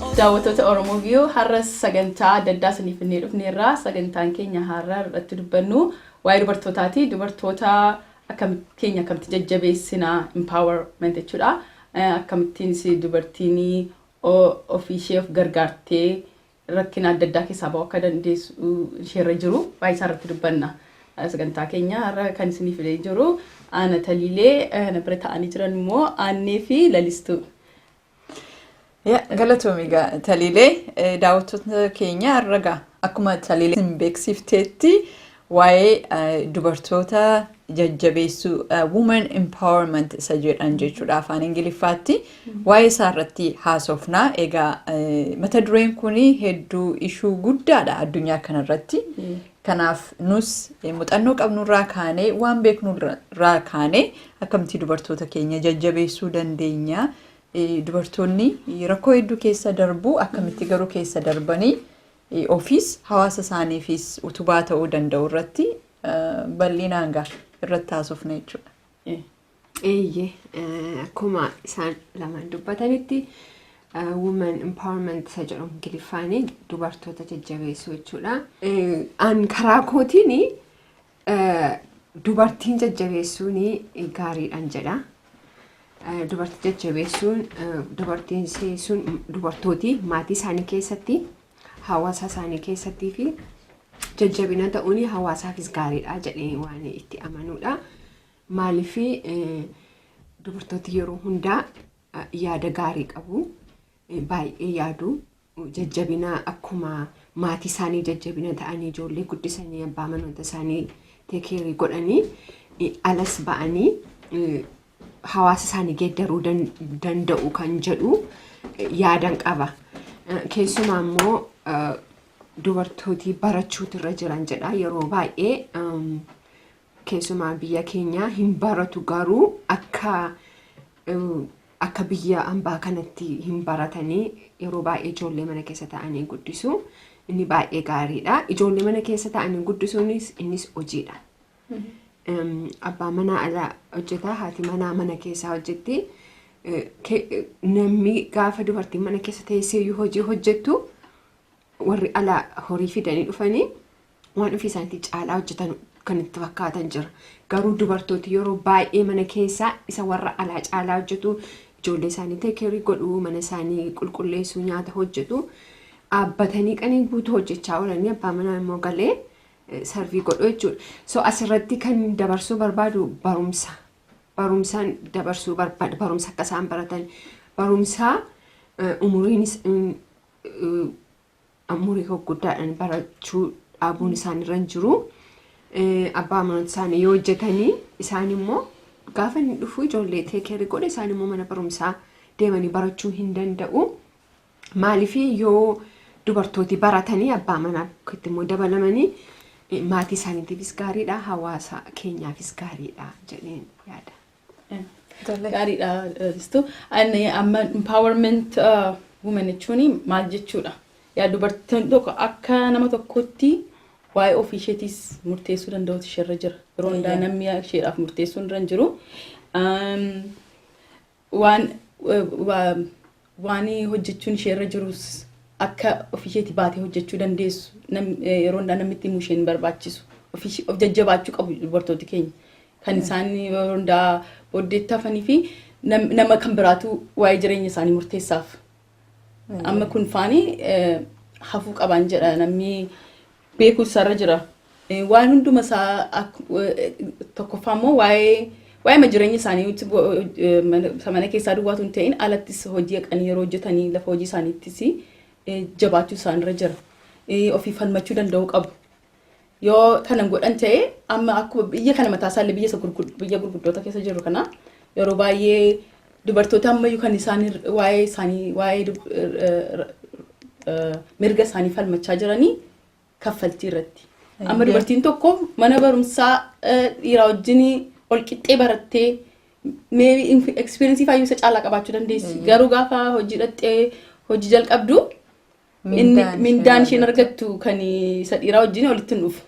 Daawwattoota Oromo View har'as sagantaa adda addaa isiniif finnee dhufneerra. Sagantaan keenya har'a irratti dubbannu waa'ee dubartootaati. Dubartoota akkam keenya akkamitti jajjabeessina empowerment jechuudha. Eh, Akkamittiinis dubartiin o- ofii ishee of gargaartee rakkina adda addaa keessaa ba'uu akka dandeessu isheerra jiru waa'ee isaa irratti dubbanna. Eh, Sagantaa keenya har'a kan isiniif finnee jiru Aana Taliilee eh, na bira taa'anii jiran immoo Aannee fi Lalistuu. Ya, Galatoomi egaa Taliilee eh, daawwattoota keenya irra gaa akkuma Taliilee isin beeksifteetti waa'ee eh, dubartoota jajjabeessuu eh, women empowerment isa jedhan jechuudha afaan ingiliffaatti waa'ee isaa irratti haasofna egaa eh, mata dureen kun hedduu ishuu guddaadha addunyaa kanarratti Kanaaf nus muxannoo qabnurraa kaanee waan beeknurraa kaanee akkamitti dubartoota keenya jajjabeessuu dandeenya. Dubartoonni rakkoo hedduu keessa darbu akkamitti garuu keessa darbanii ofiis hawaasa isaaniifis utubaa ta'uu danda'u irratti bal'inaan gaa irratti haasofna jechuudha. Eeyyee akkuma isaan lamaan dubbatanitti women empowerment isa jedhu ingiliffaan dubartoota jajjabeessuu jechuudha. An karaa kootiin dubartiin jajjabeessuun gaariidhaan jedha. Dubartii jajjabeessuun dubartiin sun dubartooti maatii isaanii keessatti hawaasa isaanii keessattii fi jajjabina ta'uun hawaasaafis gaariidha jedhee waan itti amanuudha. Maaliifi dubartooti yeroo hundaa yaada gaarii qabu. Baay'ee yaadu. Jajjabina akkuma maatii isaanii jajjabina ta'anii ijoollee guddisanii abbaa manoota isaanii teekeerii godhanii alas ba'anii hawaasa isaanii geeddaruu danda'u kan jedhu yaadan qaba. Keessumaa immoo dubartooti barachuutu irra jiran jedha. Yeroo baay'ee Keessumaa biyya keenyaa hin baratu garuu akka akka biyya ambaa kanatti hin baratanii yeroo baay'ee ijoollee mana keessa ta'anii guddisu. Inni baay'ee gaariidha. Ijoollee mana keessa ta'anii guddisuunis innis hojiidha. Abbaan manaa ala hojjeta, haati manaa mana keessaa hojjetti. Namni gaafa dubartiin mana keessa teessee hojii hojjettu warri ala horii fidanii dhufanii waan ofii isaaniitii caalaa hojjetan kan itti fakkaatan jira. Garuu dubartooti yeroo baay'ee mana keessaa isa warra alaa caalaa hojjetu. Ijoollee isaanii teekeerii godhu, mana isaanii qulqulleessu, nyaata hojjetu. Dhaabbatanii qanii guutuu hojjechaa oolanii abbaa manaa immoo galee sarvii godhu jechuudha. So asirratti kan dabarsuu barbaadu barumsa. Barumsaan dabarsuu barbaada. Barumsa akka isaan baratan. Barumsaa umuriin umurii gurguddaadhaan barachuu dhaabuun isaan irra hin jiru. Abbaa amantoota isaanii yoo hojjetanii isaan immoo gaafa inni dhufu ijoollee teekeerii godhe isaan immoo mana barumsaa deemanii barachuu hin danda'u. Maaliif yoo dubartooti baratanii abbaa manaa itti immoo dabalamanii maatii isaaniitiifis gaariidha hawaasa keenyaafis gaariidha jedheen yaada. Gaariidha Ristu. Ani amma empowerment uh, women jechuun maal jechuudha? Yaa dubartiin tokko akka nama tokkootti waa'ee ofii isheetiis murteessuu danda'utu isheerra jira. Yeroo hundaa Eeyyee. namni isheedhaaf murteessuu irra hin jiru. Um, waan eh, waa- waan hojjechuun ishee irra jirus akka ofii isheetii baatee hojjechuu dandeessu nam- eh, yeroo hundaa namni itti himu isheen barbaachisu ofii ishee- of jajjabaachuu qabu dubartooti keenya kan isaan yeroo hundaa booddeetti hafanii fi nam- nama kan biraatu waa'ee jireenya isaanii murteessaaf amma kun faanii eh, hafuu qabaan jedha namni beekuutu isaarra jira. Eh, Waan hunduma isaa ak- eh, tokkoffaa immoo waa'ee waa'eema jireenya isaanii nuti go- eh, mana isa mana keessaa duwwaatu hin ta'in alattis hojii haqanii yeroo hojjetanii lafa hojii isaaniittis eh, jabaachuu isaanirra jira. Eh, Ofii falmachuu danda'uu qabu. Yoo kanan godhan ta'e amma akkuma biyya kana mataa isaallee biyya isa gurgud- biyya gurguddoota keessa jiru kana yeroo baay'ee Dubartoota ammayyu kan isaan waa'ee isaanii waa'ee mirga isaanii falmachaa jiranii kaffaltii irratti. Amma dubartiin tokko mana barumsaa dhiiraa wajjin ol qixxee barattee mee ekspiriinsii faayyuu isa caalaa qabaachuu dandeessi. Garuu gaafa hojii dhaxxee hojii jalqabdu mindaan isheen argattu kan isa dhiiraa wajjin walitti hin dhufu.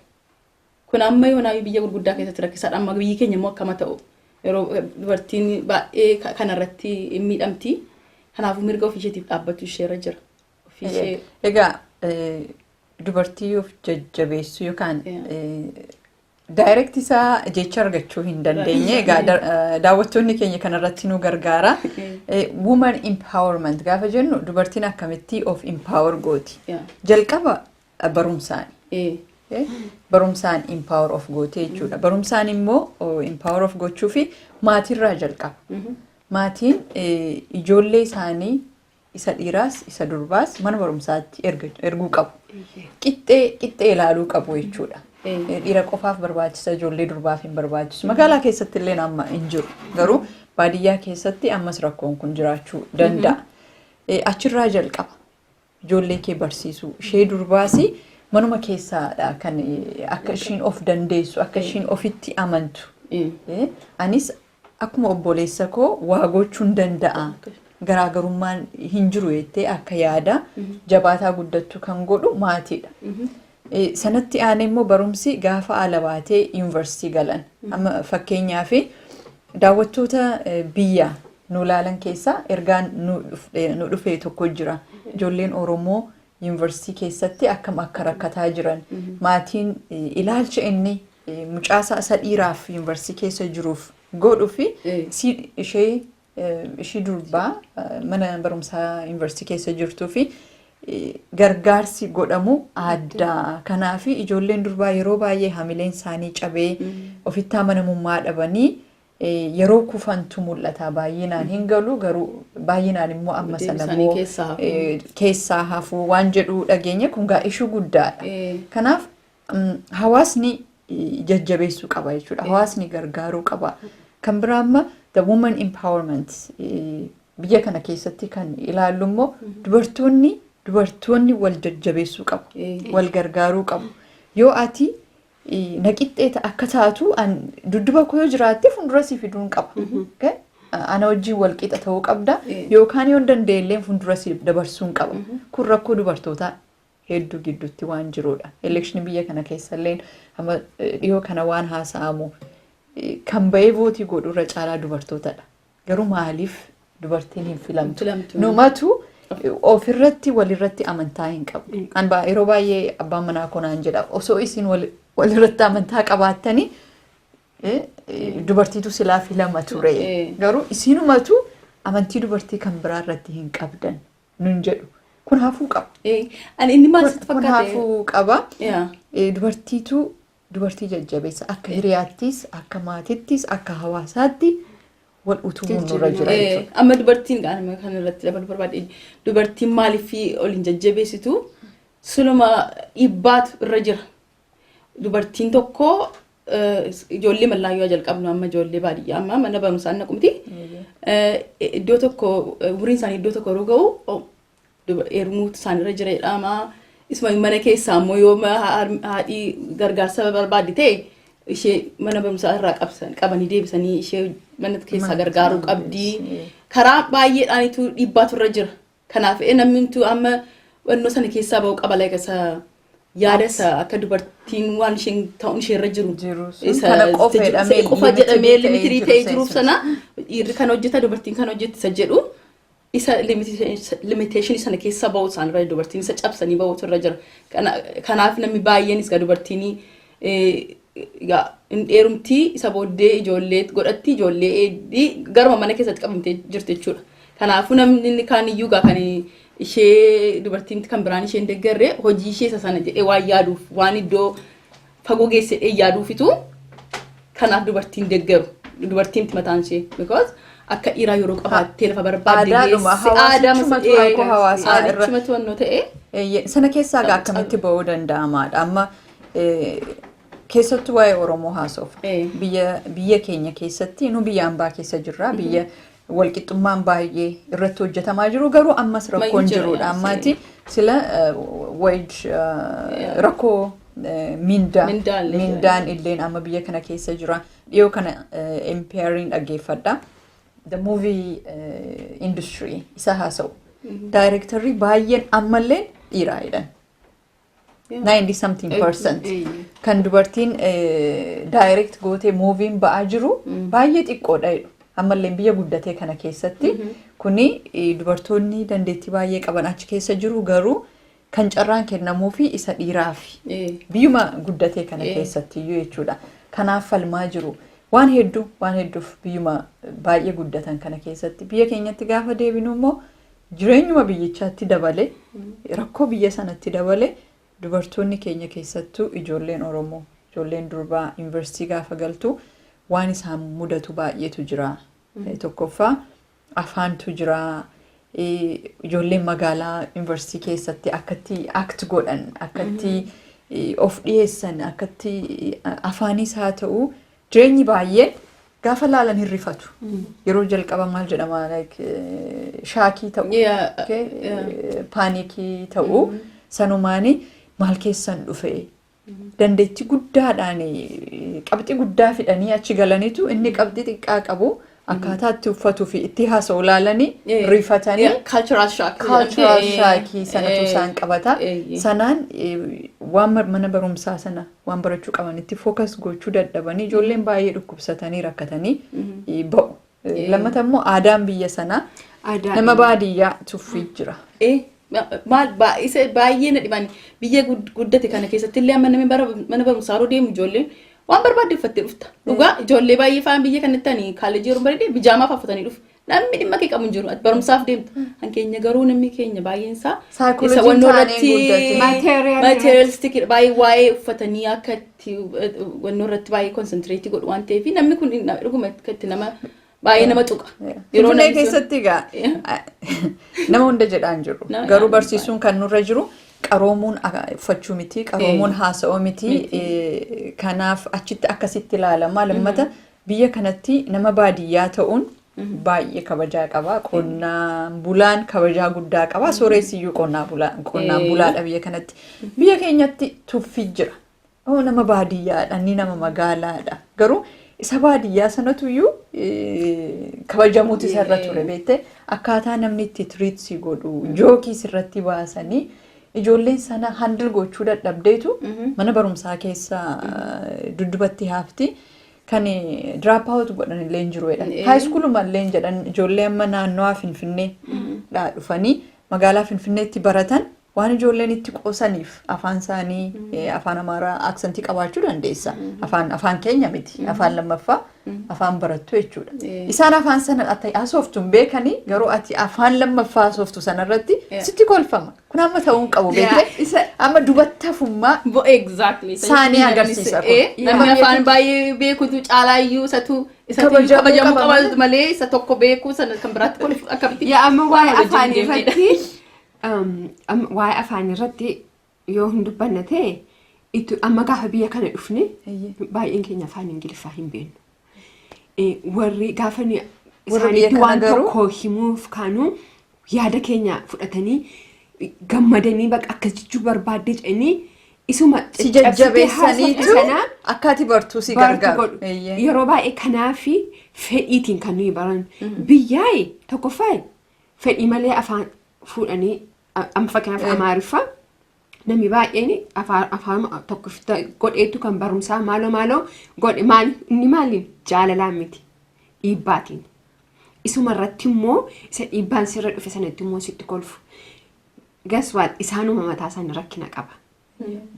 Kun amma yoonaayyuu biyya gurguddaa keessatti rakkisaadha. Amma biyyi keenya immoo akkama ta'u yeroo dubartiin baay'ee ka- kanarratti hin miidhamti. Kanaafuu mirga ofii isheetiif dhaabbachuu isheerra jira. Ofii ishee Egaa eh, dubartii of jajjabeessuu yookaan Yeah. daayirekti isaa jecha argachuu hin dandeenye. Egaa da- eh, daawwattoonni keenya kanarratti nu gargaara. Eh, Woman empowerment gaafa jennu dubartiin akkamitti of empower gooti. Yeah. Jalqaba barumsaan barumsaan empower of gootee jechuudha. Barumsaan immoo empower of gochuu fi maatiirraa jalqaba. Maatiin ijoollee isaanii isa dhiiraas isa durbaas mana barumsaatti erguu qabu. Qixxee qixxee ilaaluu qabu jechuudha. Dhiira qofaaf barbaachisa ijoollee durbaaf hin barbaachisu. Magaalaa keessatti illee amma hin jiru. Garuu baadiyyaa keessatti ammas rakkoon kun jiraachuu danda'a. Achirraa jalqaba. Ijoollee kee barsiisuu ishee durbaasi manuma keessaadha kan akka ishiin of dandeessu akka ishiin ofitti amantu. Anis akkuma obboleessa koo waa gochuun danda'a garaagarummaan hin jiru jettee akka yaada jabaataa guddattu kan godhu maatiidha. Sanatti aanee immoo barumsi gaafa ala baatee yuunivarsiitii galan. Amma fakkeenyaaf daawwattoota biyya nu ilaalan keessaa ergaan nu dhufte- nu dhufee tokko jira. Ijoolleen Oromoo yuunivarsiitii keessatti akkam akka rakkataa jiran maatiin eh, ilaalcha inni eh, mucaasaa isa dhiiraaf yuunivarsiitii keessa jiruuf godhu fi Eh. isii ishee ishii durbaa mana barumsaa yuunivarsiitii keessa jirtuu fi gargaarsi godhamu adda. Kanaaf ijoolleen durbaa yeroo baay'ee hamileen isaanii cabee ofitti amanamummaa dhabanii yeroo kufantu mul'ata. Baay'inaan hin galu garuu baay'inaan immoo amma sana immoo keessaa hafuu waan jedhu dhageenya kun gaa ishuu guddaadha. Kanaaf hawaasni jajjabeessuu qaba jechuudha. Hawaasni gargaaruu qaba. Kan biraa amma the woman empowerment biyya kana keessatti kan ilaallu immoo dubartoonni dubartoonni wal jajjabeessuu qabu. Wal gargaaruu qabu. Yoo ati naqixxeeta akka taatu dudduba koo yoo jiraatte fuuldura si fiduun qaba. Ana wajjin wal qixa ta'uu qabda yookaan yoo danda'ellee fuuldura si dabarsuun qaba. Kun rakkoo dubartootaa hedduu gidduutti waan jiruudha. Elekshinii biyya kana keessalleen amma dhiyoo kana waan haasa'amu kan ba'ee vootii godhu irra caalaa dubartootadha. Garuu maaliif dubartiin hin filamtu? Filamtu. Numatu ofirratti walirratti amantaa hin qabdu. Hin An baa- yeroo baay'ee abbaan manaa koo naan jedha osoo isin wal- walirratti amantaa qabaattanii eh, eh, dubartiitu silaa filama ture. Eh. Garuu isinumatu amantii dubartii kan biraa irratti hin qabdan. nun jedhu kun hafuu qaba. Eh, Ani inni maal sitti Kun kun fakkaate? hafuu qaba. Yaa. Eh, Dubartiitu dubartii jajjabeessa akka hiriyaattis akka maatittis akka hawaasaatti wal utubuun nurra jira Eh, jechuudha. Amma dubartiin gaanuma kan irratti dabalu barbaade dubartiin maaliif ol hin jajjabeessitu suluma dhibbaatu irra jira. Dubartiin tokko ijoollee mallaayyoo haa jalqabnu amma ijoollee baadiyyaa amma mana barumsaa hin naqumti. Iddoo tokko umriin isaanii iddoo tokko yeroo ga'u oh, duba- heerumuutu isaanirra jira jedhama. Isuma mana keessaa ammoo yoo ma- ha- har- haadhii gargaarsa barbaadde ta'e ishee mana barumsaa irraa qabsan qabanii deebisanii ishee mana keessaa Mana gargaaruu keessaa qabdi. deebisanii. Karaa baay'eedhaanitu dhiibbaatu irra jira. Kanaaf ee namnumtuu amma wannoo sana keessaa ba'uu qaba like isa yaada isa akka dubartiin waan isheen ta'uun ishee irra jiru Jiru sun isa kana qofa isa jedhamee jedhamee qofa limited jedhamee ta'ee limitirii jiru ta'ee isa jiruuf ibsa. sana dhiirri kan hojjeta dubartiin kan hojjetti isa jedhu isa limitation sana keessa ba'uu isaan irra dubartiin isa cabsanii ba'uutu irra jira Kana- kanaaf namni baay'eenis gaa dubartiin Egaa hin dheerumti isa booddee ijoollee godhatti ijoollee eegdi garuma mana keessatti qabamtee jirti jechuudha. Kanaafuu namni inni kaan iyyuu egaa kan ishee dubartiin kan biraan isheen deggarre hojii ishee isa sana jedhee waan yaaduuf waan iddoo fagoo geesse jedhee yaaduufitu kanaaf dubartiin deggaru dubartiin miti mataan ishee because akka dhiiraa yeroo qabaattee lafa barbaadde Aadaadhuma, geesse aadama hawaasichuma sana- turan koo hawaasaa irra- hawaasichuma to'annoo ta'ee Eeyyee, sana keessaa egaa Cab- cab- akkamitti ba'uu danda'amaadha amma Keessattuu waa'ee Oromoo haasoof. Biyya keenya keessatti nu biyya ambaa keessa jirra. Biyya walqixxummaan baay'ee irratti hojjetamaa jiru garuu ammas rakkoon jirudha. Ammaati sila wage rakkoo mindaa mindaan illeen amma biyya kana keessa jira. Dhiyoo kana MPRin dhaggeeffadha. The movie industry isa haasa'u. Daayirektarri baay'een ammallee dhiiraa jedhan. 90 something percent kan dubartiin direct gootee muuviin ba'aa jiru baay'ee xiqqoodha jedhu. Ammallee biyya guddatee kana keessatti kuni eh, dubartoonni dandeettii baay'ee qaban achi keessa jiru garuu kan carraan kennamuu fi isa dhiiraa fi Eh. biyyuma guddatee kana Eh. keessatti iyyuu jechuudha. Kanaaf falmaa jiru. Waan hedduu waan hedduuf biyyuma baay'ee guddatan kana keessatti biyya keenyatti gaafa deebinu immoo Jireenyuma biyyichaatti dabale, rakkoo biyya sanatti dabale dubartoonni keenya keessattuu ijoolleen Oromoo, ijoolleen durbaa Yuunivarsiitii gaafa galtu waan isaan mudatu baay'eetu jira. Tokkoffaa afaantu jira. Ijoolleen magaalaa yuunivarsiitii keessatti akkatti act godhan, akkatti of dhiyeessan, akkatti afaanis haa ta'u Jireenyi baay'een gaafa laalan hin rifatu. Yeroo jalqaba maal jedhama like, eh, shaakii ta'u, Yeah, okay, yeah. eh, paanikii ta'u sanumaani maal keessan dhufe dandeettii guddaadhaan eh, qabxii guddaa fidanii achi galaniitu inni qabxii xiqqaa qabu Akkaataa itti uffatuu fi itti haasa'u ilaalanii Eh, rifatanii yeah, cultural shock. cultural Eh, shock sanatu eh, isaan qabata. eh, eh. Sanaan eh, waan mar- mana barumsaa sana waan barachuu qaban itti focus gochuu dadhabanii ijoolleen baay'ee dhukkubsatanii rakkatanii eh, ba'u. Eh, Lammata immoo aadaan biyya sanaa Aadaa- nama baadiyyaa tuffii jira. Eh, maal baay'ise baay'ee na dhibani biyya gud- guddate kana keessatti illee amma namni bara mana barumsaa yeroo deemu ijoolleen waan barbaadde uffattee dhufta dhugaa ijoollee baay'ee faan biyya kanatti ani kaalejii yeroo bareedee bijaamaa faa uffatanii dhufu namni dhimma kee qabu hin jiru ati barumsaaf deemta kan keenya garuu namni keenya baay'een isaa Saayikoolojiin isa wannoo taanee irratti guddate. Material materialistic baay'ee waa'ee uffatanii akka itti wannoo irratti baay'ee konsantireetii godhu waan ta'eef namni kun na- dhuguma akka itti nama Baay'ee nama tuqa. Yeroo Finfinnee namni sun- keessatti egaa nama hunda jedhaa hin jiru. Nama Garuu jedhaa barsiisuun kan nurra jiru qaroomuun a- uffachuu miti, qaroomuun Eh. haasa'uu miti. Miti. Eh, Kanaaf achitti akkasitti ilaalama. Lammata biyya kanatti nama baadiyyaa ta'uun baay'ee kabajaa qaba. Qonnaan bulaan kabajaa guddaa qaba. Sooreessiyyuu qonnaa bulaa- qonnaan Eh. bulaadha biyya kanatti. Biyya keenyatti tuffii jira. Nama nama baadiyyaadha, inni nama magaalaadha. Garuu isa baadiyyaa sanatu iyyuu kabajamuutu isa irra ture beektee akkaataa namni itti tiriit si godhu jookii sirratti baasanii ijoolleen sana handil gochuu dadhabdeetu mana barumsaa keessa duddubatti haafti. Kan diraap haawutu godhan illee hin jiru jedhan. Haayiskuuluma illee hin jedhan ijoollee amma naannawaa Finfinnee dhaa dhufanii magaalaa Finfinneetti baratan Waan ijoolleen itti qoosaniif afaan isaanii afaan amaaraa aksantii qabaachuu dandeessa. Afaan afaan keenya miti. Afaan lammaffaa afaan barattu jechuudha. Isaan afaan sana ati haasoftu hin beekanii garuu ati afaan lammaffaa haasoftu sanarratti sitti kolfama. Kun amma ta'uu hin qabu beekte. Amma dubattafummaa saanii agarsiisa kun. Namni afaan baay'ee beekutu caalaa iyyuu isatu isatu kabajamu qaba malee isa tokko beeku sana kan biraatti kolfu akkamitti. Yaa amma waa'ee afaan irratti Waa'ee afaanii irratti yoo hin dubbanne ta'e amma gaafa biyya kana dhufne baay'een keenya afaan ingiliffaa hin beeknu. Warri gaafa isaaniitti waan tokko himuuf kaanu yaada keenya fudhatanii gammadanii bakka akkas jechuu barbaadde jedhanii isuma si jajjabeessaniitu akkaati bartuu si gargaaru. Yeroo baay'ee kanaafi fedhiitiin kan nuyi baran. Biyyaa'e tokkoffaa fedhii malee afaan fuudhanii a- amma fakkeenyaaf Eh. amaariffaa namni baay'een afaan afaan tokko fita- godheetu kan barumsaa maaloo maaloo godhe maali inni maaliin jaalalaan miti dhiibbaatiin isuma irratti immoo isa dhiibbaan sirra dhufe sanatti immoo sitti kolfu gaswaat isaanuma mataa isaanii rakkina qaba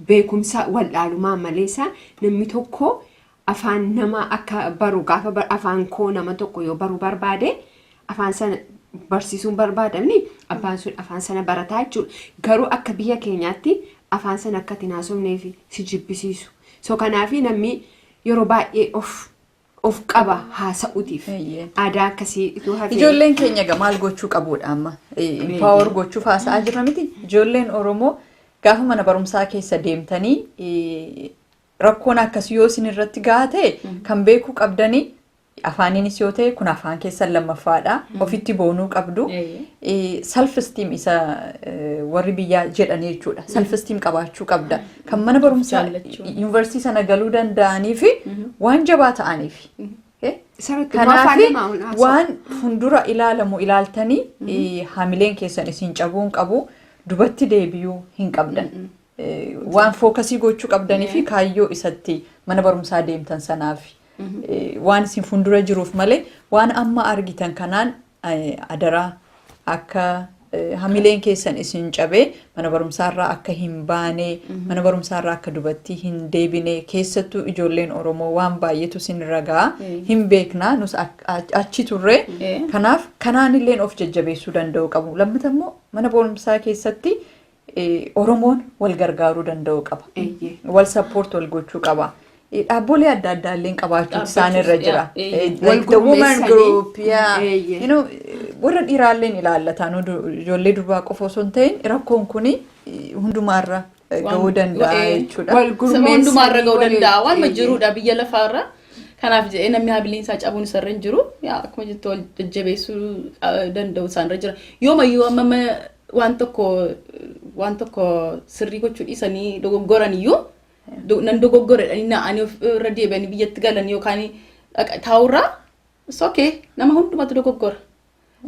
beekumsa wal'aalumaa maleessa namni tokko afaan nama akka baru gaafa bar- afaan koo nama tokko yoo baru barbaade afaan sana barsiisuun barbaadamni abbaan sun afaan sana barataa jechuudha. Garuu akka biyya keenyaatti afaan sana akka itti hin haasofnee fi si jibbisiisu. So kanaafi namni yeroo baay'ee of of qaba haasa'uutiif. Eeyyee. Aadaa akkasii ituu hafee. Ijoolleen keenya egaa maal gochuu qabuudha amma? Impaawar gochuuf haasa'aa jirra miti. Ijoolleen Oromoo gaafa mana barumsaa keessa deemtanii eh, rakkoon akkasii yoo isin irratti gahaa ta'e kan beekuu qabdanii afaaniinis yoo ta'e kun afaan keessan lammaffaadha. Ofitti boonuu qabdu. Eeyyee. Self esteem isa eh, warri biyyaa jedhanii jechuudha. Self esteem qabaachuu qabda. kan mana barumsaa Jaallachuun. yuunivarsiitii sana galuu danda'anii fi waan jabaa ta'aniif. Eh? Isarratti waan Kanaaf faallaa waan haasa'u. waan fuuldura ilaalamu ilaaltanii eh, hamileen keessan isin cabuu hin qabu dubatti deebi'uu hin qabdan. Eh, Waan fookasii gochuu qabdanii fi kaayyoo isatti mana barumsaa deemtan sanaaf eh, waan isin fuuldura jiruuf malee waan amma argitan kanaan Adaraa akka hamileen keessan isin cabee mana barumsaarraa akka hin baane mana barumsaarraa akka dubattii hin deebine keessattuu ijoolleen Oromoo waan baay'eetu isin ragaa hin beekna nus achi turre kanaaf kanaanilleen of jajjabeessuu danda'u qabu lammata immoo mana barumsaa keessatti Oromoon wal gargaaruu danda'uu qaba. Eeyyee. Wal support wal gochuu qaba. Dhaabbolee adda addaa illee qabaachuu isaan irra jira. Eeyyee. Wal Like the woman gurmeessanii. group, yeah. Eeyyee. You know, warra dhiiraa illee ni ilaallata. Nu du- Ijoollee durbaa qofa osoo hin ta'in rakkoon kun hundumaarra eh, ga'uu danda'a Wal- jechuudha. wal Saba gurmeessanii hundumaarra ga'uu waliin- danda'a. Waanuma eeyyee. jiruudha biyya lafaarra. Kanaaf jedhee namni habiliin isaa cabuun isarra hin jiru. Yaa, Akkuma jettu wal jajjabeessuu ah, danda'u isaanirra jira. Yoomayyuu amma amma waan tokko waan tokko sirrii gochuu dhiisanii dogoggoran iyyuu do- nan dogoggoredhanii na'anii of irra deebi'anii biyyatti galan yookaan dhaqa- taa'urraa it's okay nama hundumatu dogoggora.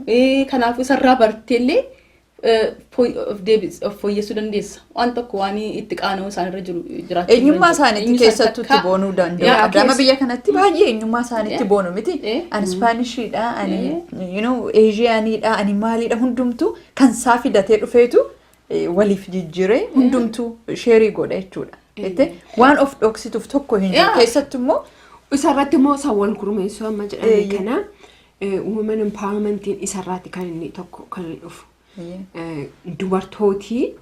Eh, Kanaafuu isarraa barteellee eh, fooy- of deebis- of fooyyessuu dandeessa. waan tokko waan itti qaana'uu isaan irra jiru jiraachuu Eenyummaa hin danda'u. isaaniitti Eenyu keessattuu itti sadarkaa- boonuu Yaa, danda'u. Adama keessa- biyya kanatti baay'ee eenyummaa isaaniitti Eh. boonu miti. Eh. Ani Ispaanishidha, ani you know, Eeshiyaanidha, ani maalidha hundumtuu kan isaa fidatee dhufeetu eh, waliif jijjiiree hundumtuu sheerii godha jechuudha. Jettee waan of dhoksituuf tokko hin jiru. Yaa. Keessattuu immoo Isarratti immoo sawwan gurmeessuu amma jedhame Eeyyee. kana eh, women empowermentiin isarraatti kan inni tokko kan inni dhufu. dubartootii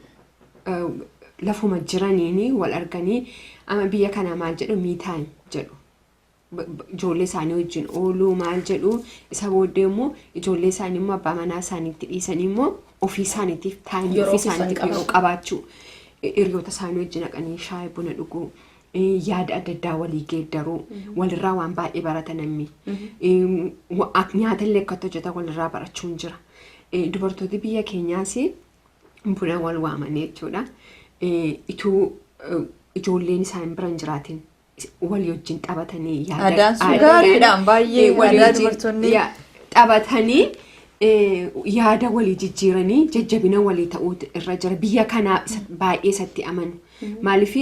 lafuma jiraniin wal arganii ama biyya kana maal jedhu miitaan jedhu ijoollee isaanii wajjin ooluu maal jedhu isa booddee immoo ijoollee isaanii immoo abbaa manaa isaaniitti dhiisanii immoo ofii isaaniitiif taa'anii ofii isaaniitiif yeroo qabaachuu hiriyoota isaanii wajjin haqanii shaayii buna dhuguu yaada adda addaa walii geeddaruu walirraa waan baay'ee barata namni nyaata illee akkatti hojjetan walirraa barachuun jira dubartooti biyya keenyaas buna wal waamanii jechuudha ituu ijoolleen isaan biran jiraatiin walii wajjin taphatanii yaada Aadaan sun aadaan- gaariidhaan baay'ee eh, walii aadaa wajjin- dubartoonni- ya- taphatanii eh, yaada walii jijjiiranii jajjabina walii ta'uutu irra jira biyya kanaa isa- baay'ee isatti amanu Maaliif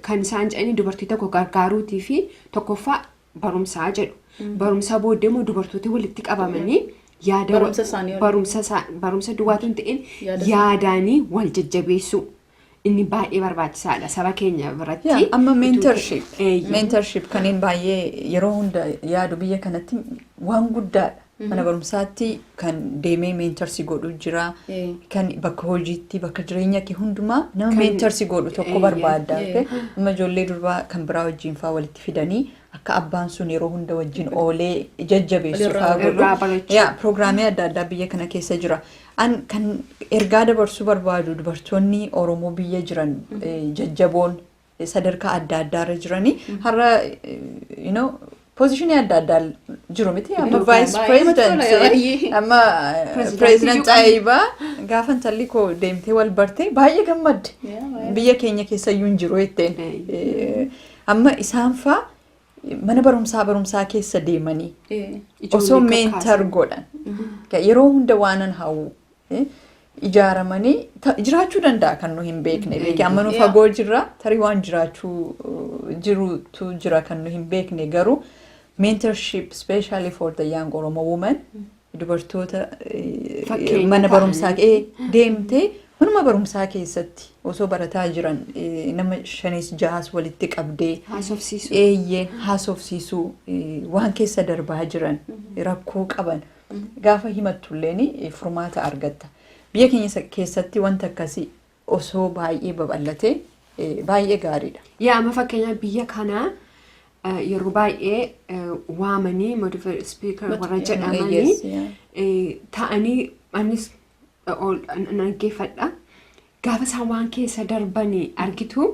kan isaan jedhanii dubartii tokko gargaaruutii fi tokkoffaa barumsaa jedhu. Barumsaa booddee immoo dubartooti walitti qabamanii yaada Barumsa isaanii waliin. barumsa isaa- barumsa duwwaatu hin ta'in Yaada isaa- yaadaanii wal jajjabeessuu inni baay'ee barbaachisaadha saba keenya biratti. Yaa, amma mentorship Eeyyee. mentorship kanneen baay'ee yeroo hunda yaadu biyya kanatti waan guddaadha Mana barumsaatti kan deemee meentarsi godhu jira. Eh. Kan bakka hojiitti, bakka jireenya kee hundumaa nama Kan- meentarsi godhu tokko Eh, barbaadda. eh, okay? eh. Amma ijoollee durbaa kan biraa wajjin faa walitti fidanii akka abbaan sun yeroo hunda wajjin oolee jajjabeessu Walirraa- faa godhu. irraa barachuu. Yaa, Pirogiraamii adda addaa biyya kana keessa jira. An kan ergaa dabarsuu barbaadu dubartoonni Oromoo biyya jiran eh, jajjaboon sadarkaa adda addaa irra jiranii har'a you know pozishinii adda addaa jiru miti amma Dorgomaa vaayis baay'ee namatti tola, pireezidantii baay'ee. amma Pireezidantii pireezidant iyyuu qabna. Xaayibaa gaafa intalli koo deemtee wal bartee baay'ee gammadde Yaa, baay'ee. biyya keenya keessa iyyuu hin jiru jetteen Eeyyee. Eh, amma isaan faa mana barumsaa barumsaa keessa deemanii Eh, osoo ijoollee meentar kakaasan. godhan Ka- yeroo hunda waanan hawwu ijaaramanii jiraachuu danda'a kan nu hin beekne beekee amma nu fagoo jirra tarii waan jiraachuu jirutu jira kan nu hin beekne garuu mentorship specially for the young oromo woman dubartoota mana barumsaa kee deemtee manuma barumsaa keessatti osoo barataa jiran nama shanis jahas walitti qabdee eeyyeen haasofsiisuu waan keessa darbaa jiran rakkoo qaban Gaafa himattulleen furmaata argatta. Biyya keenya keessatti wanti akkasii osoo baay'ee babal'ate baay'ee gaariidha. Yaa amma fakkeenyaaf biyya kana eh, yeroo baay'ee eh, waamanii modified speaker warra Yes, jedhamanii yeah. eh, ta'anii anis eh, ol- an- an dhaggeeffadha. Gaafa isaan waan keessa darbanii argitu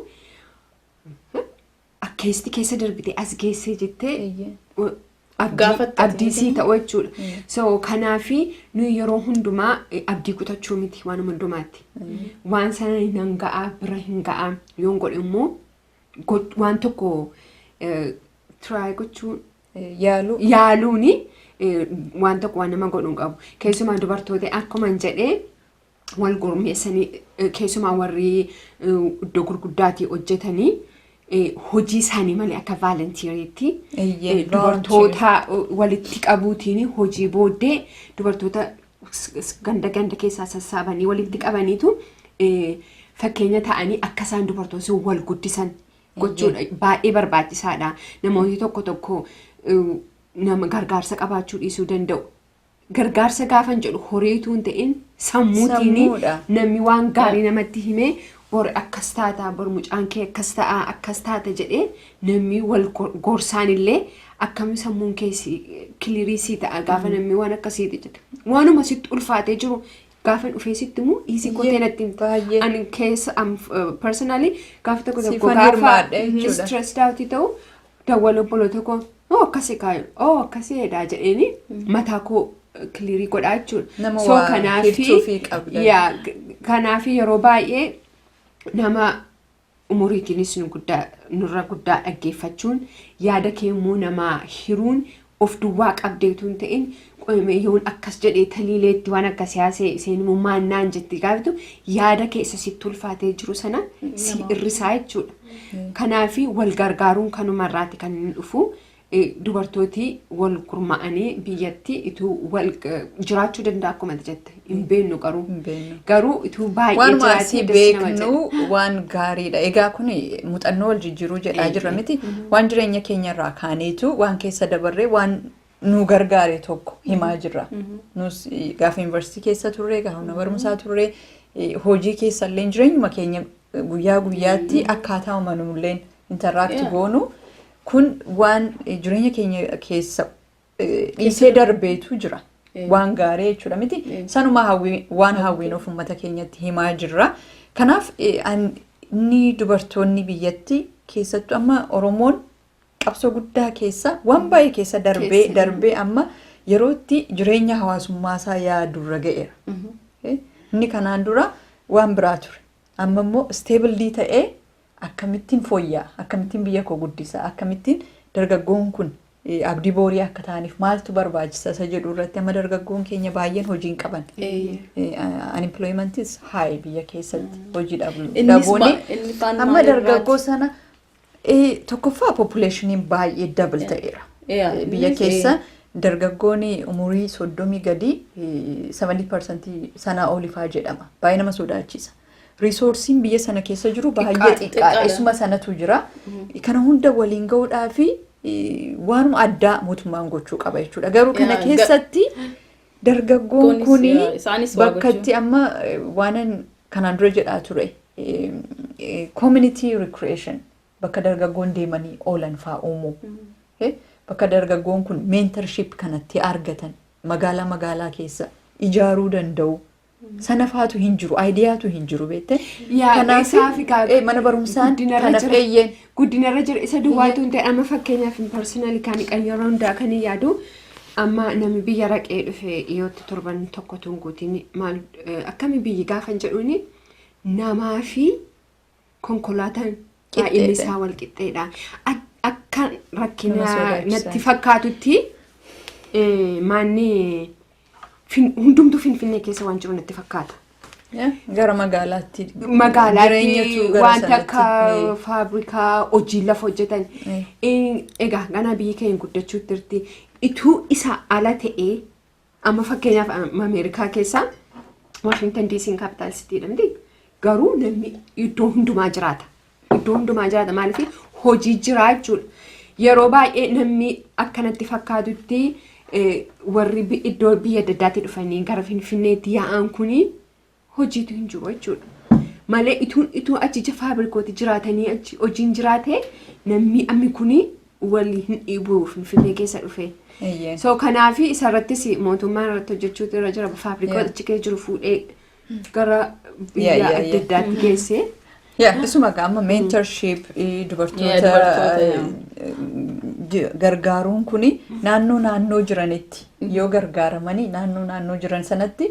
akkeessi keessa darbite as geessee jettee Eeyyeen. uh, Of abdii- gaafatte abdii sii jechuudha. ta'u jechuudha. Mm. So kanaafi nuyi yeroo hundumaa eh, abdii kutachuu miti waan hundumaatti. Waan sana nan ga'aa bira hin ga'aa yoon godhe immoo go- waan tokko eh, try gochuu Eh, Yaaluu. yaaluuni eh, waan tokko waan nama godhu hin qabu. Keessumaa dubartoota akkuman jedhee wal gurmeessanii keessumaa warri iddoo gurguddaatii hojjetanii hojii isaanii malee akka vaalantiiriitti dubartoota walitti qabuutiin hojii booddee dubartoota ganda ganda keessaa sassaabanii walitti qabaniitu fakkeenya ta'anii akka isaan dubartoonni sun wal guddisan gochuudha baay'ee barbaachisaadha namoonni tokko tokko nama gargaarsa qabaachuu dhiisuu danda'u. Gargaarsa gaafan jedhu horii utuu hin ta'in sammuutiin Sammuudha. namni waan gaarii namatti himee bor akkas taata bor mucaan kee akkas ta'a akkas taata jedhee namni wal go- gorsaan illee akkami sammuun kee si- kilirii sii ta'a gaafa namni waan akkasiiti jedhe waanuma sitti ulfaatee jiru gaafa dhufee sitti immoo dhiisii Iyyee, kotee natti himta. baay'ee. ani keessa am personally gaafa tokko tokko Siifan gaafa hirmaadhe jechuudha. stressed out ta'u dawwal obboloota koo oo akkasi kaayu oo akkasi jedhaa jedheeni mataa koo kiliirii godhaa jechuudha. Nama So waa kanaafi- hirtuufii qabda. yaa, k- kanaafi yeroo baay'ee nama umuriitiinis nu guddaa nurra guddaa dhaggeeffachuun yaada kee immoo namaa hiruun of duwwaa qabdee utuu hin ta'in qoyimee yoon akkas jedhee taliileetti waan akka siyaasee seenumummaan naan jettee gaafatu yaada keessa sitti ulfaatee jiru sana si irrisaa jechuudha. Kanaaf wal gargaaruun kanuma irraati kan inni dhufu dubartooti wal gurmaa'anii biyyatti ituu wal jiraachuu danda'a akkuma jette. hin beennu garuu. Hin beennu. Garuu utuu baay'ee Waanuma jiraatee asii das nama beeknu jedha. waan gaariidha. Egaa kun muuxannoo wal jijjiiruu jedhaa Eeyyee. jirra miti. Waan jireenya keenya irraa kaaneetu waan keessa dabarree waan nu gargaare tokko himaa jirra. Nus eh, gaafa yuunivarsiitii keessa turre, gaafa mana barumsaa turre, eh, hojii keessa illee jireenyuma keenya eh, guyyaa guyyaatti akkaataa uumamnulleen intaraakti Yeah. goonu kun waan eh, jireenya keenya keessa dhiisee darbeetu jira. Waan gaarii jechuudha miti. Sanuma waan hawwiin of uummata keenyatti himaa jirra. Kanaaf inni dubartoonni biyyatti keessattuu amma Oromoon qabsoo guddaa keessa waan baay'ee keessa darbee darbee amma yerootti jireenya hawaasummaa isaa yaadurra ga'eera. Inni kanaan dura waan biraa ture. Amma immoo isteebilii ta'ee akkamittiin fooyya'a, akkamittiin biyya koo guddisa, akkamittiin dargaggoon kun abdii boorii akka ta'aniif maaltu barbaachisa isa jedhu irratti amma dargaggoon keenya baay'een hojii hin qaban. Unemploymentis high biyya keessatti hojii dhaboonni. Amma dargaggoo sana tokkoffaa populationiin baay'ee double ta'eera. Biyya keessa dargaggoon umurii soddomii gadii 70% sanaa olifaa jedhama. Baay'ee nama sodaachisa. Riisoorsiin biyya sana keessa jiru baay'ee Xiqqaadha. xiqqaadha. Xiqqaadha. Isuma sanatu jira. Kana hunda waliin ga'uudhaa fi waanuma addaa mootummaan gochuu qaba jechuudha. Garuu kana Yaa, ga- keessatti dargaggoon Goonis, kun yaa, isaanis waa bakka gochuu. itti amma eh, waanan kanaan dura jedhaa ture eh, eh, community recreation bakka dargaggoon deemanii oolan faa uumuu. Eh, Bakka dargaggoon kun mentorship kanatti argatan magaalaa magaalaa keessa ijaaruu danda'u. Sana faatu hin jiru, ayidiyaatu hin jiru beektee. Yaa, Kanaaf isaa fi gaa- eh, mana barumsaan guddinarra kanaaf jira. eeyyeen. guddinarra jira isa duwwaatu hin ta'e amma fakkeenyaaf hin parsinali kan kan yeroo hundaa kan hin yaadu amma namni biyya raqee dhufe dhiyootti torban tokko tun guutiin maal eh, akkami biyyi gaafan jedhuuni namaa fi konkolaataan baay'inni isaa wal qixxeedha. Akka rakkina natti fakkaatutti maanni hundumtuu Finfinnee keessa waan jiru natti fakkaata. Gara magaalaatti. Magaalaatti wanta akka faabrikaa hojii lafa hojjetan. Egaa ganaa biyyi keenya guddachuutti jirti. Ituu isa ala ta'ee Amma fakkeenyaaf Ameerikaa keessaa Washington DC'n capital city dha miti. Garuu namni iddoo hundumaa jiraata. Iddoo hundumaa jiraata maaliif hojii jiraa jechuudha. Yeroo baay'ee namni akkanatti fakkaatutti eh, warri bi- iddoo biyya adda addaatti dhufanii gara Finfinneetti yaa'an kuni hojiitu hin jiru jechuudha. Malee ituun ituu achi ija faabirikooti jiraatanii achi hojiin jiraate namni ammi kuni wali hin dhiibuu finfinnee keessa dhufee. Eeyyee. So kanaafi isarrattis mootummaan irratti hojjechuutu irra jira faabirikoota Yeah. achi keessa jiru fuudhee gara Yeah, biyya yeah, adda yeah. addaatti geessee. Yeah, isuma gaa amma mentorship eh, Yeah, dubartoota dubartoota, eh, yeah. eh, gargaaruun kuni naannoo naannoo jiranitti yoo gargaaramanii naannoo naannoo jiran sanatti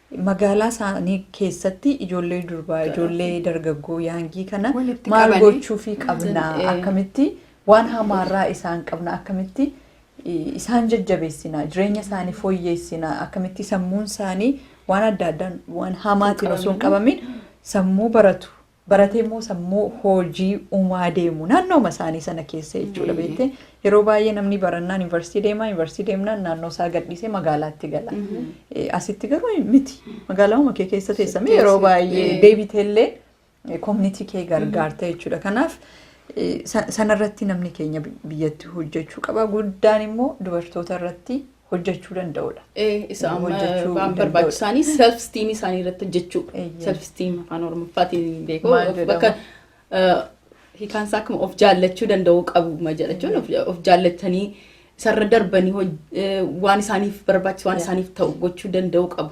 Magaalaa isaanii keessatti ijoollee durbaa, ijoollee dargaggoo yaangii kana Walitti maal qabanii. gochuufii qabna, Eh. akkamitti waan hamaarraa isaan qabna, akkamitti eh, isaan jajjabeessina, jireenya isaanii fooyyeessina, akkamitti sammuun isaanii waan adda addaan waan hamaatiin osoo hin qabamin sammuu baratu, baratee immoo sammuu hojii uumaa deemu naannooma isaanii sana keessa jechuudha beektee yeroo baay'ee namni barannaan yuunivarsiitii deema yuunivarsiitii deemnaan naannoo isaa gadhiisee magaalaatti gala Eh, asitti garuu miti magaalaa kee keessa teessamee yeroo baay'ee deebiteellee koominitii kee gargaarta jechuudha kanaaf eh, sa- sanarratti namni keenya bi- biyyatti hojjechuu qaba guddaan immoo dubartoota irratti hojjechuu danda'udha. Isa amma Hojjechuu waan danda'udha. barbaachisaanii self esteem isaanii irratti hojjechuu. Eeyyee. Self esteem afaan oromoffaatiin hin beeku. Maal Of- jedhama? Bakka eh, hiikaan isaa akkuma of jaallachuu danda'uu qabu ma jedha jechuun of- of jaallatanii isarra darbanii hoj- eh, waan isaaniif barbaachisu waan Yeah. isaaniif ta'u gochuu danda'uu qabu.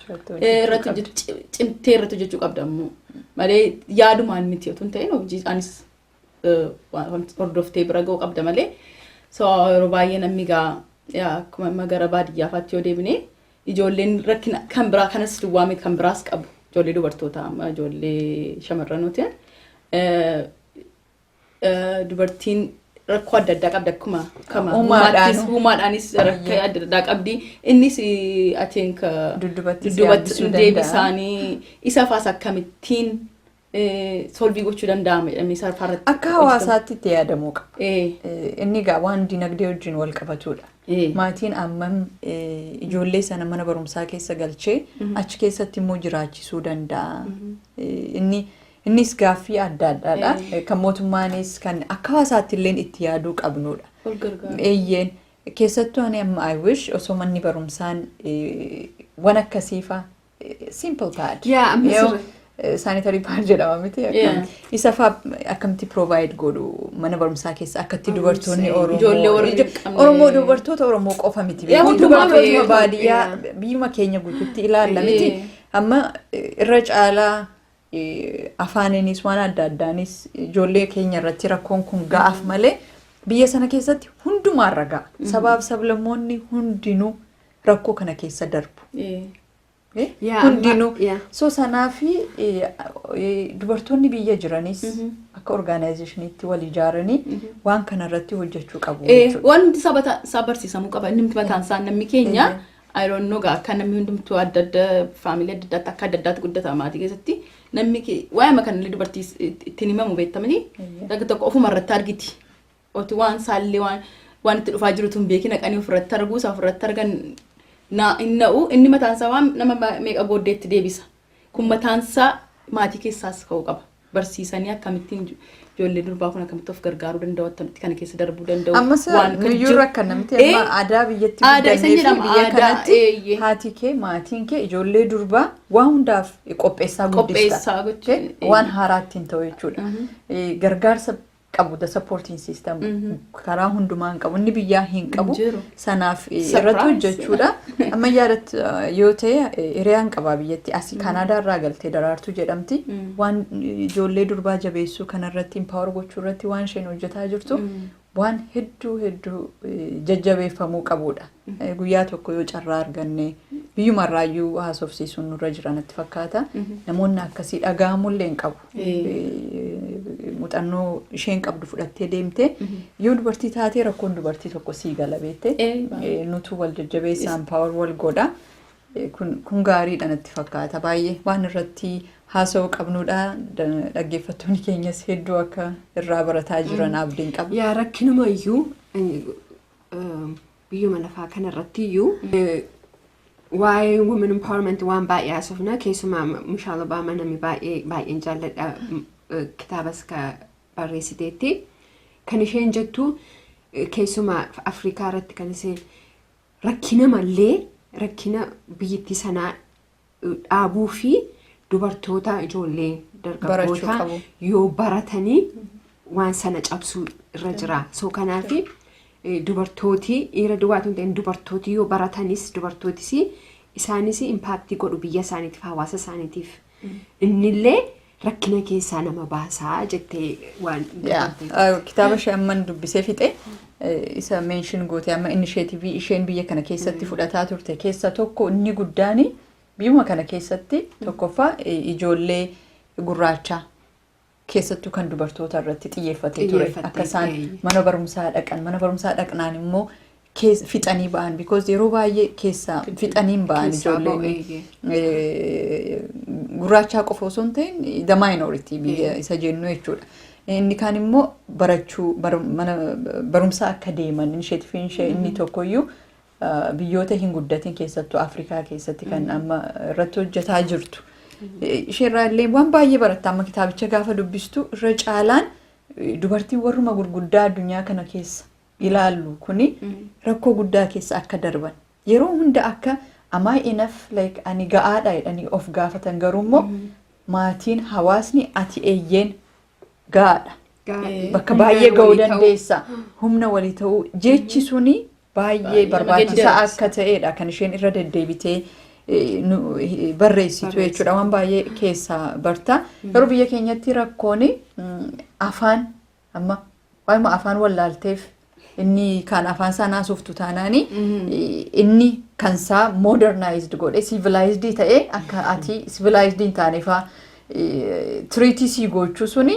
irratti hojjetu ci- cimtee irratti hojjechuu qabda ammoo malee yaadumaan miti otoo hin ta'in hojii anis eh, wa- wanti hordoftee bira ga'uu qabda malee so yeroo baay'ee namni gaa yaa, akkuma amma gara baadiyyaa faatti yoo deebine ijoolleen rakkina kan biraa kanas duwwaa miti kan biraas qabu ijoollee dubartootaa amma ijoollee shamarranootiin eh, dubartiin rakkoo adda addaa qabdi akkuma kama Uumaadhaan. uumaattis- uumaadhaanis rakkoo adda addaa qabdi innis I think uh, Duddubattis duddubattis yaabbisuu danda'a. deebisaanii isa faas akkamittiin eh, solvii gochuu danda'ama jedhamee isa irratti Akka hawaasaatti itti yaadamuu qaba. Eh, Eh, Inni egaa waan dinagdee wajjin wal qabatudha. eh, Maatiin ammam eh, ijoollee sana mana barumsaa keessa galchee achi keessatti immoo jiraachisuu danda'a. Eh, Inni Innis gaaffii adda addaadha. Kan mootummaanis kan akka hawaasaatti illee itti yaaduu qabnudha. Wal gargaaru. Eeyyeen keessattuu ani amma I wish osoo manni barumsaan eh, waan akkasiifa simple pad. Yaa, amma Yoo, sirri. eh, sanitary pad jedhama miti. Yaa. akkam- Isa faa akkamitti provide godhu mana barumsaa keessa akkatti Amma dubartoonni sirri. Oromoo. Ijoollee warri ijo- hin qabne. Oromoo dubartoota Oromoo qofa miti. Yaa, Hundi hundumaa dubartootuma beeku. baadiyyaa Yaa. biyyuma keenya guutuutti ilaalla miti. Ee. Amma eh, irra caalaa afaaniinis waan adda addaanis ijoollee keenya irratti rakkoon kun ga'aaf malee biyya sana keessatti hundumaarra ga'a. Sabaaf sablammoonni hundinuu rakkoo kana keessa darbu. Eh, Eh, Yaa, amma- Hundinuu. yaa. So sanaa fi eh, eh, dubartoonni biyya jiranis Mhm. akka orgaanaayizeshiniitti wal ijaaranii Mhm. waan kana irratti hojjechuu qabu Eh, jechuudha. waan hundi saba ta- isaa barsiisamuu qaba. Inni mataan isaa namni keenya Eh. I don't know gaa akka namni hundumtuu adda adda faamilii adda addaatti akka adda addaatti guddata maatii keessatti namni ki- waa'ima kan illee dubartii is- itti- ittiin himamu beektamanii Eeyyee. dhagga tokko ofuma irratti argiti oti waan saallee waan waan itti dhufaa jirutu hin beekin haqanii ofirratti arguu isaa ofirratti argan naa hin na'u inni mataan isaa waan nama ma- meeqa booddeetti deebisa Kun mataansaa maatii keessaas ka'uu qaba. Barsiisanii akkamittiin ijoollee durbaa kun akkamitti of gargaaruu danda'u akkamitti kana keessa darbuu danda'u Ammas waan kan nuyyuu jiru- rakkanna miti Eh, amma aadaa biyyatti aadaa isa guddannee fi jedhama, biyya aadaa, kanatti eeyyee. haati kee maatiin kee ijoollee durbaa waan hundaaf qopheessaa guddista. Qopheessaa gochuun, Okay? Waan haaraatti hin ta'u jechuudha. Eh, Gargaarsa qabu the supporting system karaa hundumaa hin qabu inni biyyaa hin qabu jiru. sanaaf eh, Surprise. irratti hojjechuudha ammayyaa irratti eh, yoo ta'e eh, hiriyaan qabaa biyyatti asii kaanaadaa irraa galtee daraartuu jedhamti waan eh, ijoollee durbaa jabeessuu kanarratti impaawar gochuu irratti waan isheen hojjetaa jirtu waan hedduu hedduu eh, jajjabeeffamuu qabudha Eh, guyyaa tokko yoo carraa arganne biyyumarraayyuu haasofsiisuun nurra jira natti fakkaata namoonni akkasii dhaga'amullee hin qabu Muuxannoo isheen qabdu fudhattee deemte yoo dubartii taatee rakkoon dubartii tokko sii gala beekte nutu wal jajjabeessa impaawar wal godha kun gaariidha natti fakkaata baay'ee waan irratti haasa'uu qabnuudha dhaggeeffattoonni keenyas hedduu akka irraa barataa jiran abdiin qaba. Yaa rakkinuma iyyuu biyyuma lafaa kanarratti iyyuu waa'ee women empowerment waan baay'ee haasofna keessumaa Mishaal Obaamaa namni baay'ee baay'een jaalladha m- eh, kitaabas ka barreessiteetti kan isheen jettu eh, keessumaa Afrikaa irratti kan isheen rakkina mallee rakkina biyyittii sanaa eh, dhaabuu fi dubartoota ijoollee Barachuu dargaggootaa qabu. yoo baratanii waan sana cabsuu irra jira so kanaafi Dubartooti dhiira duwwaa otoo hin ta'in dubartooti yoo baratanis dubartootis isaanis impaaktii godhu biyya isaaniitiif hawaasa isaaniitiif innillee rakkina keessaa nama baasaa jettee waan Yaa, dubbatte. eh, kitaaba ishee amman dubbisee fixe eh, isa meenshin goote amma inisheetivii isheen biyya kana keessatti fudhataa turte keessa tokko inni guddaan biyyuma kana keessatti tokkoffaa eh, ijoollee gurraachaa keessattuu kan dubartoota irratti xiyyeeffatee ture Xiyyeeffatee, akka isaan eeyyee. mana barumsaa dhaqan mana barumsaa dhaqnaan immoo kees- fixanii ba'an because yeroo baay'ee keessaa fixaniin ba'an Keessaa ba'u, ijoolleen eeyyee. eh, gurraachaa qofa osoo hin ta'in the minority biyya Eeyyee. isa jennu jechuudha. Inni kaan immoo barachuu bar- mana barumsaa akka deeman inisheetifiin ishee inni tokkoyyuu biyyoota hin guddatin keessattuu Afrikaa keessatti kan amma irratti hojjetaa jirtu. Isheerraa illee waan baay'ee baratta amma kitaabicha gaafa dubbistu irra caalaan dubartiin warruma gurguddaa addunyaa kana keessa ilaallu kuni rakkoo guddaa keessa akka darban yeroo hunda akka amaa inaf like ani ga'aadha jedhanii of gaafatan garuu immoo maatiin hawaasni ati eeyyeen gaadha. Gaadhee. Bakka Humna baay'ee ga'uu walii ta'uu. dandeessa. Humna walii ta'uu jechi suni baay'ee Baay'ee barbaachisaa nama akka ta'edha kan isheen irra deddeebitee eh, nu- eh, barreessitu jechuudha waan baay'ee keessaa barta. Garuu biyya keenyatti rakkoon mm, afaan amma waayuma afaan wallaalteef inni kaan afaan isaa naasoftu taanaani inni kan isaa modernaayizd godhe sivilaayizdii ta'e akka ati sivilaayizdii hin taanefaa tiriitii sii gochuu suni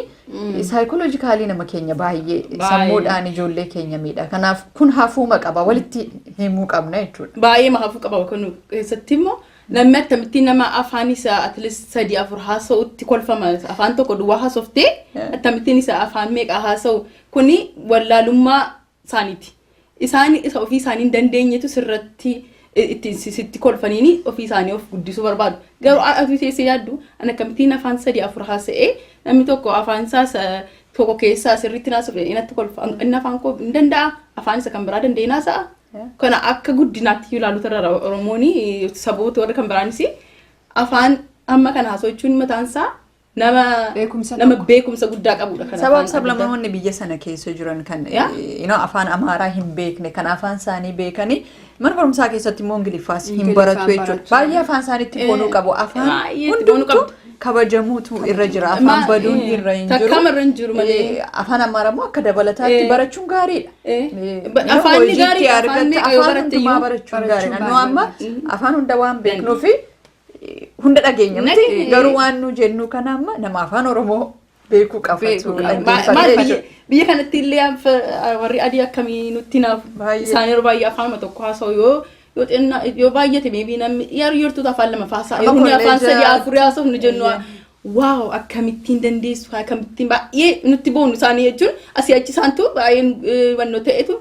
saayikooloojikaalii nama keenya baay'ee Baay'ee. sammuudhaan ijoollee keenya miidha kanaaf kun hafuuma qaba walitti himuu qabna jechuudha. Baay'ee mahafuu qaba kun keessatti immoo Namni akkamittiin nama afaan isaa at least sadii afur haasa'utti kolfama afaan tokko duwwaa haasoftee Yeah. akkamittiin isa afaan meeqaa haasa'u kuni wallaalummaa isaaniiti. Isaan isa ofii isaanii hin dandeenyetu sirratti i- itti si- sitti kolfaniini ofii isaanii of guddisuu barbaadu. Garuu a- ati teessee yaaddu an akkamittiin afaan sadii afur haasa'ee namni tokko afaan isaa isa tokko keessaa sirriitti naasuuf inatti kolfa inni afaan koo hin danda'a afaan isa kan biraa danda'ee naasa'a Kana akka guddinaatti iyyuu ilaaluutu irra jira. Oromoon saboota warri kan biraanis afaan amma kana haasofchuun mataan isaa nama Beekumsa nama tokko. beekumsa guddaa qabudha. Kan Sabaaf afaan adda addaa. sablammoonni biyya sana keessa jiran kan Yaa. you know, afaan Amaaraa hin beekne kan afaan isaanii beekanii mana barumsaa keessatti immoo Ingiliffaas hin Ingiliffaan baratu jechuudha. barachuu. Baay'ee afaan isaaniitti Eh, bonuu qabu. Afaan baay'ee itti bonuu hundumtuu qabdu. kabajamuutu irra jira afaan Ma- baduun eh, irra hin takkaama jiru irra hin jiru malee. Eh, afaan amaaraa immoo akka dabalataatti Eh. barachuun gaariidha Eh, Eh, ba- yeroo afaanni hojiitti gaariidha, afaanni argatte yoo afaan baratte hundumaa iyyuu barachuun gaariidha barachuun nu amma gaariidha. afaan hunda waan beeknuufi eh, hunda dhageenya miti Nag- garuu waan nu jennu kana amma nama afaan oromoo Beekuu qaba. Beeku. Maal dhaggeeffadhee biyya biyya kanatti illee anfa warri adii akkamii nutti naaf Baay'ee. isaan yeroo baay'ee afaanuma tokko haasa'u yoo yoo xinnaa yoo baay'ate meebii namni yeroo yertuutu afaan lama faasaa Amma yeroo afaan kolleejaa- sadii afurii haasa'u nu jennu waaw akkamittiin dandeessu akkamittiin baay'ee nutti boonu isaanii jechuun asii achi isaantu baay'ee eh, wannoo ta'etu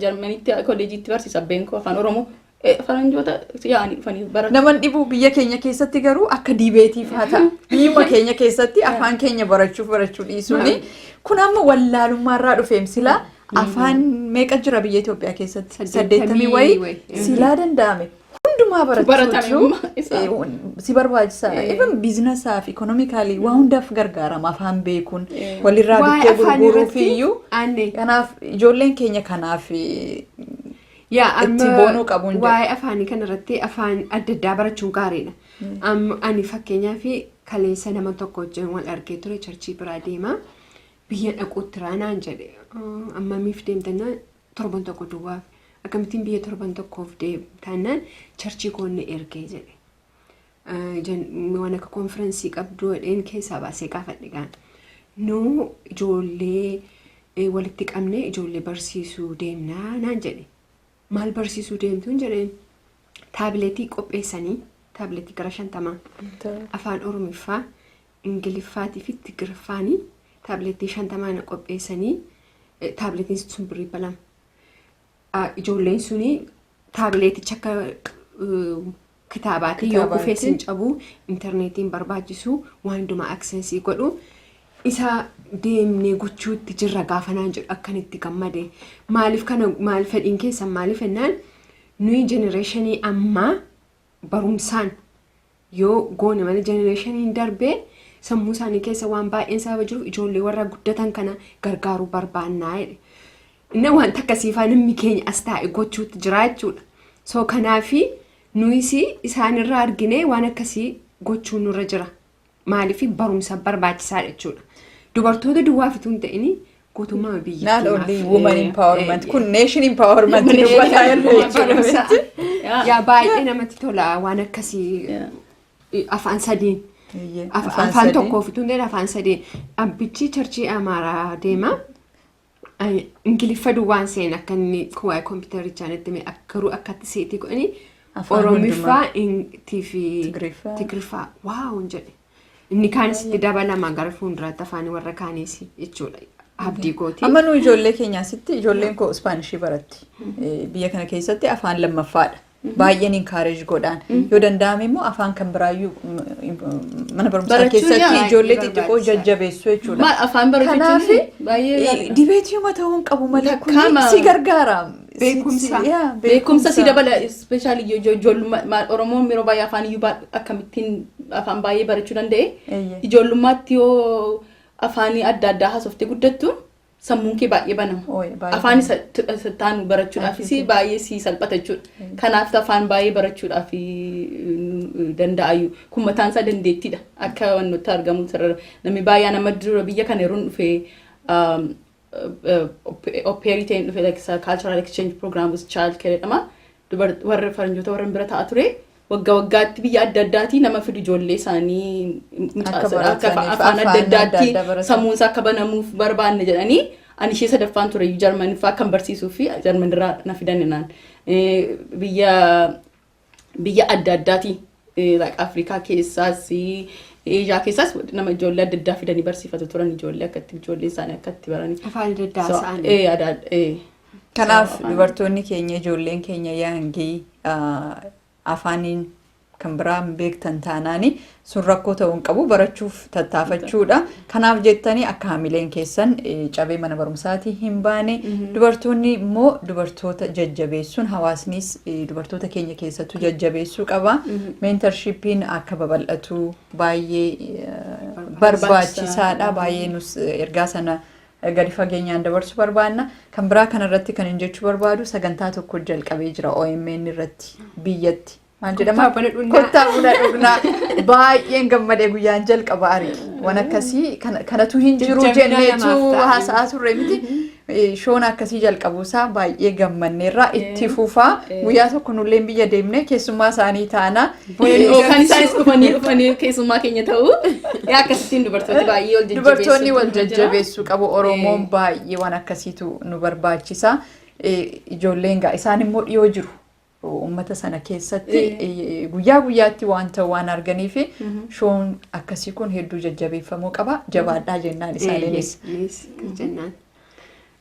Jarmanitti kolleejiitti barsiisa abbeen koo afaan Oromoo. Faranjoota yaa'anii dhufanii baratu. Naman dhibu biyya keenya keessatti garuu akka diibeetiif haa ta'a. Biyyuma keenya keessatti afaan keenya barachuuf barachuu dhiisuuni. Kun amma wallaalummaarraa dhufeem silaa afaan meeqa jira biyya Itoophiyaa keessatti? Saddeettamii wayii silaa danda'ame. hundumaa barachuutu si barbaachisaadha. Even biizinasaa fi ikonomikaalii waa hundaaf gargaarama afaan beekuun walirraa bittee gurguruuf iyyuu. Kanaaf ijoolleen keenya kanaaf itti boonuu qabu. Waa'ee afaanii kanarratti afaan adda addaa barachuun gaariidha. Ani fakkeenyaaf kaleessa nama tokko wajjin wal argee ture charchii biraa deemaa biyya dhaquutti raanaan jedhe ammamiif deemtannaa torban tokko duwwaaf akkamittiin biyya torban tokkoof deemtaannaan charchii koonne ergee jedhe. Waan akka konfiraansii qabdu jedheen keessaa baasee gaafadhe gaan. Nuu ijoollee walitti qabnee ijoollee barsiisuu deemnaa naan jedhe. Maal barsiisuu deemtuun jedheen taabileetii qopheessanii taabileetii gara shantamaa afaan oromiffaa Ingiliffaatii fi Tigiriffaani taablettii shantamaa na qopheessanii taablettiin sun birrii dhibba lama. Ah, Ijoolleen suni taableeticha akka eh, kitaabaatii yoo Kitaabaatti. kufee sin cabu intarneetiin barbaachisu waan hundumaa aksensii godhu isa deemnee gochuutti jirra gaafanaan jedhu akkan itti gammade maaliif kana maal fedhiin keessan maaliif ennaan nuyi jenereeshinii ammaa barumsaan yoo goone malee jenereeshiniin darbee sammuu isaanii keessa waan baay'een sababa jiruuf ijoollee warra guddatan kana gargaaruu barbaannaa jedhe. Inni wanta akkasiifaa namni keenya as taa'e gochuutti jira jechuudha. So kanaafi nuyis isaanirraa arginee waan akkasii gochuu nurra jira. maaliif barumsa barbaachisaadha jechuudha. Dubartoota duwwaa fituu hin ta'in guutummaa Not biyyattii only woman empowerment kun nation empowerment dubbataa jirra jechuudha miti. Yaa baay'ee namatti tola waan akkasii Yeah. afaan sadiin. Eeyyee, Af- afaan sadii. tokkoo fituu hin ta'in afaan sadiin. Abbichi charchii Amaaraa deema. Ani ingiliffa duwwaan seen akka inni waa'ee kompiitarichaa natti hime ak- garuu akkatti seetii godhanii Afaan oromiffaa intii fi Tigriffaa. tigriffaa waaw hin jedhe inni kaanis itti dabalama gara fuulduraatti afaan warra kaaniis jechuudha abdii kooti Amma nu ijoollee keenyaasitti ijoolleen koo Ispaanishii baratti. Eh, Biyya kana keessatti afaan lammaffaadha. baay'een encourage godhaan yoo danda'ame immoo afaan kan biraayyuu mm, mm, mana barumsaa Barachuun keessatti yaa- ijoollee baay'ee xixiqqoo barbaachisaadha. jajjabeessuu jechuudha. Maal afaan barachuun Kanaaf baay'ee gaariidha. dibeetiuma ta'uu hin qabu malee kun Takkaama. si gargaara. Si- Beekumsa. si- yaa, beekumsa si dabala ispeeshaalii ijoollummaa oromoon yeroo baay'ee afaan iyyuu baa- akkamittiin afaan baay'ee barachuu danda'e Eeyyee. ijoollummaatti yoo afaanii adda addaa haasofte guddattu sammuun kee baay'ee banama. Ooye, baay'ee Afaan isa t- isa taanu barachuudhaafis Akkasii. baay'ee si salphata jechuudha. Mm. Kanaaf afaan baay'ee barachuudhaaf danda'ayu. Kun mataan isaa dandeettiidha. Akka wantoota argamu sarara. Namni baay'een amma dura biyya kana yeroo dhufe oppeerii ta'een dhufe like sa- cultural exchange program with child care jedhama. Dubar- Warra faranjoota warra bira ta'a ture. wagga waggaatti biyya adda addaatii nama fidu ijoollee isaanii mucaasa afaan adda addaatti sammuun isaa akka banamuuf barbaanne jedhanii ani ishee sadaffaan ture jarman fa'aa kan barsiisuu fi jarman irraa na fidan naan biyya biyya adda addaatii Afrikaa keessaas Eeshiyaa keessaas nama ijoollee adda addaa fidanii barsiifatu turan ijoollee akkatti ijoollee isaanii akkatti baranii. Afaan adda addaa isaanii. Kanaaf Afaan- dubartoonni keenya ijoolleen keenya yaangii ah, afaaniin kan biraa hin beektan taanaani sun rakkoo ta'uu hin qabu barachuuf tattaafachuudha. Kanaaf jettanii akka hamileen keessan eh, cabee mana barumsaatii hin baane dubartoonni immoo dubartoota jajjabeessuun hawaasnis eh, dubartoota keenya keessattuu jajjabeessuu qaba. Meentarshippiin akka babal'atu baay'ee eh, barbaachisaadha. Baay'ee nus eh, ergaa sana gadi fageenyaan dabarsu barbaanna. Kan biraa kana irratti kan hin jechuu barbaadu sagantaa tokko jalqabee jira OMN irratti biyyatti. Maal jedhama? Kottaa buna dhugnaa. Kottaa buna dhugnaa. Baay'een gammadee guyyaan jalqaba arge. Waan akkasii kana- kanatu hin jiru Jajjabina jenneetu namaaf ta'a. haasa'aa turre miti. Eh, Shoon akkasii jalqabuusaa baay'ee gammanneerra itti fufaa Eh. guyyaa tokko nulleen biyya deemnee keessummaa isaanii taanaa Wayiloo kan isaanis dhufanii dhufanii keessummaa keenya ta'u. Yaa akkasittiin dubartooti baay'ee wal jajjabeessu. Dubartoonni wal jajjabeessuu qabu Oromoon baay'ee waan akkasiitu nu barbaachisa. Ijoolleen gaa isaan immoo dhiyoo jiru. Uummata sana keessatti guyyaa guyyaatti waan ta'u waan arganiif shoon akkasii kun hedduu jajjabeeffamuu qaba. Jabaadhaa jennaan isaaniinis. Jennaan.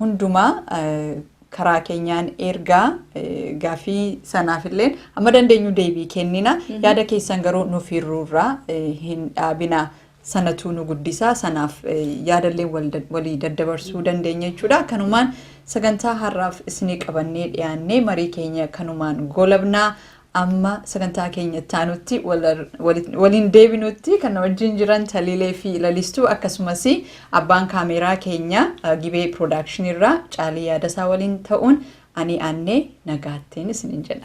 hundumaa karaa keenyaan ergaa gaafii sanaafilleen amma dandeenyu deebii kennina yaada keessan garuu nuuf hirruurraa hin dhaabina sanatuu nu guddisaa sanaaf yaadallee walii daddabarsuu dandeenya jechuudha kanumaan sagantaa har'aaf isinii qabannee dhiyaannee marii keenya kanumaan golabnaa Amma sagantaa keenya itti aanutti waliin deebinutti kan na wajjin jiran Taliilee fi Lalistuu akkasumas abbaan kaameeraa keenya Gibee Production irraa Caalii Yaadasaa waliin ta'uun ani Aannee nagaattiin isiniin jenna.